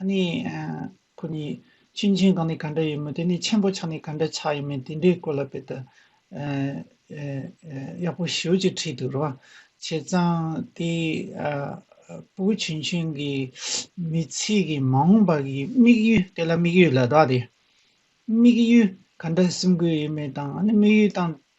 ཨ་ནི། ཁོ་གཉིས་གཅིག་མཆན་གང་ནས་ག་འདྲ་ཡིན་མོད་དེ་ནི་མཆན་བུ་ཆགས་ནས་ག་འདྲ་ཆགས་ཡིན་མིན་དེ་འདྲའི་སྐོར་ལ་དཔེ་ལྟ་ཡག་པོ་ཞུ་ཅེས་བྲིས་འདུག་རོང་བྱེད་ཙང་དེ་པུའུ་ཆུན་ཆུན་གྱི་མི་ཚེ་གི་མ་འོངས་པ་གི་དམིགས་ཡུལ་དེ་ལ་དམིགས་ཡུལ་ལ་དྭགས་ཏེ། དམིགས་ཡུལ་ག་འདྲ་སེམས་དགོས་ཡོད་མེད་དང་ཨ་ནི་དམིགས་ཡུལ་དང་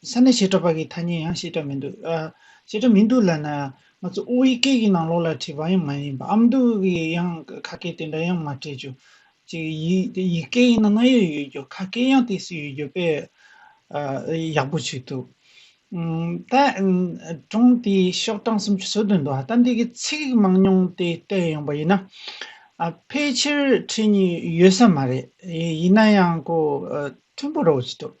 དེ་ས་ནས་བཤད་གྲབས་པ་གི་ཐ་སྙད་ཡང་བཤད་གྲབས་མི་འདུག་ཨ། བཤད་གྲབས་མི་འདུག་ལ་ན། ང་ཚོ་དབུས་སྐད་གི་ནང་ལོགས་ལ་བྲིས་པ་ཡང་མ་ཡིན་པ་ཨམ་འདུག་གི་ཡང་ཁ་སྐད་དེ་འདྲ་ཡང་མ་བྲིས་ཆུག། གཅིག་ཡིག་ཡིག་སྐད་ཡིན་ན་ང་ཡོད་ཡོད་རྒྱུ་ཁ་སྐད་ཡང་དེ་སུ་ཡོད་རྒྱུ་དཔེ། ཨ། ཡག་པོ་བྱོས་ཐུབ། ད། གྲོང་དེ་ཤོག་གྲངས་སུམ་ཅུ་སོ་དོན་འདུག་ཨ་ད་འདི་གི་ཚིག་མང་ཉུང་དེ་བལྟས་ཡོང་པ་ཡིན་ན། ཨ་ཕལ་ཆེར་ཁྲིད་ནི་ཡོད་ས་མ་རེད་ཡིན་ན་ཡང་གོ། མཐུན་པོ་རོགས་བྱེད་ཐུབ།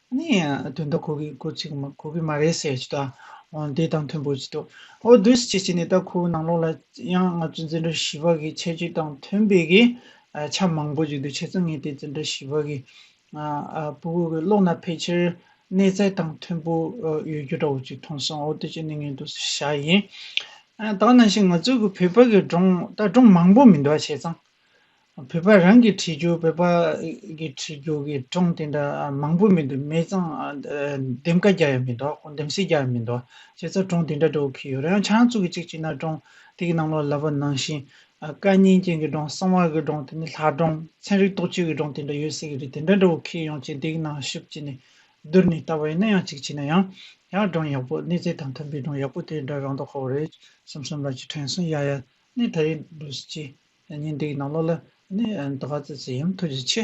ནས་དོན་དག་གོ་གི་གོ་གཅིག་གོ་གི་མ་རེད་ཟེར་གྱི་འདུག་ཨོ་དེ་དང་མཐུན་པོ་གྱི་འདུག་ཨོ་བསྡུ་བྱེད་ཀྱི་ནས་ད་ཁོའི་ནང་ལོགས་ལ་ཡང་ང་ཚོའི་འཛིན་གྲྭ་བཞི་པ་གི་ཁྱད་ཆོས་དང་མཐུན་པའི་གི་ཆ་མང་པོ་གྱི་འདུག་བྱས་ཙང་ངས་དེ་འཛིན་གྲྭ་བཞི་པ་གི་པུ་གུ་གི་ཀློག་ན་ཕལ་ཆེར་གནས་ཚད་དང་མཐུན་པོ་ཡོད་རྒྱུ་འདྲ་བོ་གཅིག་མཐོང་སོང་ཨོ་དེ་ཅི་ནས་ངས་འདུག་ས་ཞག་ཡིན། ད་ནང་བཞིན་ང་ཚོའི་གི་བོད་པ་གི་སྒྲུང་ད་སྒྲུང་མང་པོ་མི་འདུག་བྱས་ཙང། བོད་པ་རང་གི་གྲི་གུག་བོད་པ་གི་གྲི་གུག་གི་ཀྲོང་དེ་འདྲ་མང་པོ་མི་འདུག་མེད་ཙང་འདེམས་ཀ་རྒྱག་ཡ་མི་འདུག་འདེམས་གསེས་རྒྱག་ཡ་མི་འདུག་བྱས་ཙང་ཀྲོང་དེ་འདྲ་འགྲོ་གི་ཡོད་རེད་ཡང་ཆ་ཡང་བཙུགས་གི་གཅིག་གཅིག་ན་ཀྲོང་དེ་གི་ནང་ལོག་ལབ་པ་ནང་བཞིན་སྐད་སྙན་ཅན་གི་ཀྲོང་གསང་བ་གི་ཀྲོང་དེ་ནི་ལྷ་ཀྲོང་ཚན་རིག་རྟོག་དཔྱོད་ཀྱི་ཀྲོང་དེ་འདྲ་ཡོད་སྲིད་གི་རེད་དེ་འདྲ་འགྲོ་གི་ཡོང་ཅིག་དེ་གི་ནང་ཤུབས་ཅིག་ནས་བསྡུར་ནས་ལྟ་བ་ཡིན་ན་ཡང་གཅིག་བྱས་ན་ཡང་ཡང་ཀྲོང་ཡག་པོ་གནས་ཚད་དང་མཐུན་པའི་ཀྲོང་ཡག་པོ་དེ་འདྲ་རང་འདོག་ཁོ་རེ་གསུམ་གསུམ་ལ་ཅིག་དྲན་སོང་ཡ་ཡ་གནས་ད་རེ་འགྲོ་སྲིད་ཅེས་ཉིན་དེའི་ནང་ལོགས་ལ། ནི། དགའ་བརྩེ་ཡུམ་ཐུགས་རྗེ་ཆེ།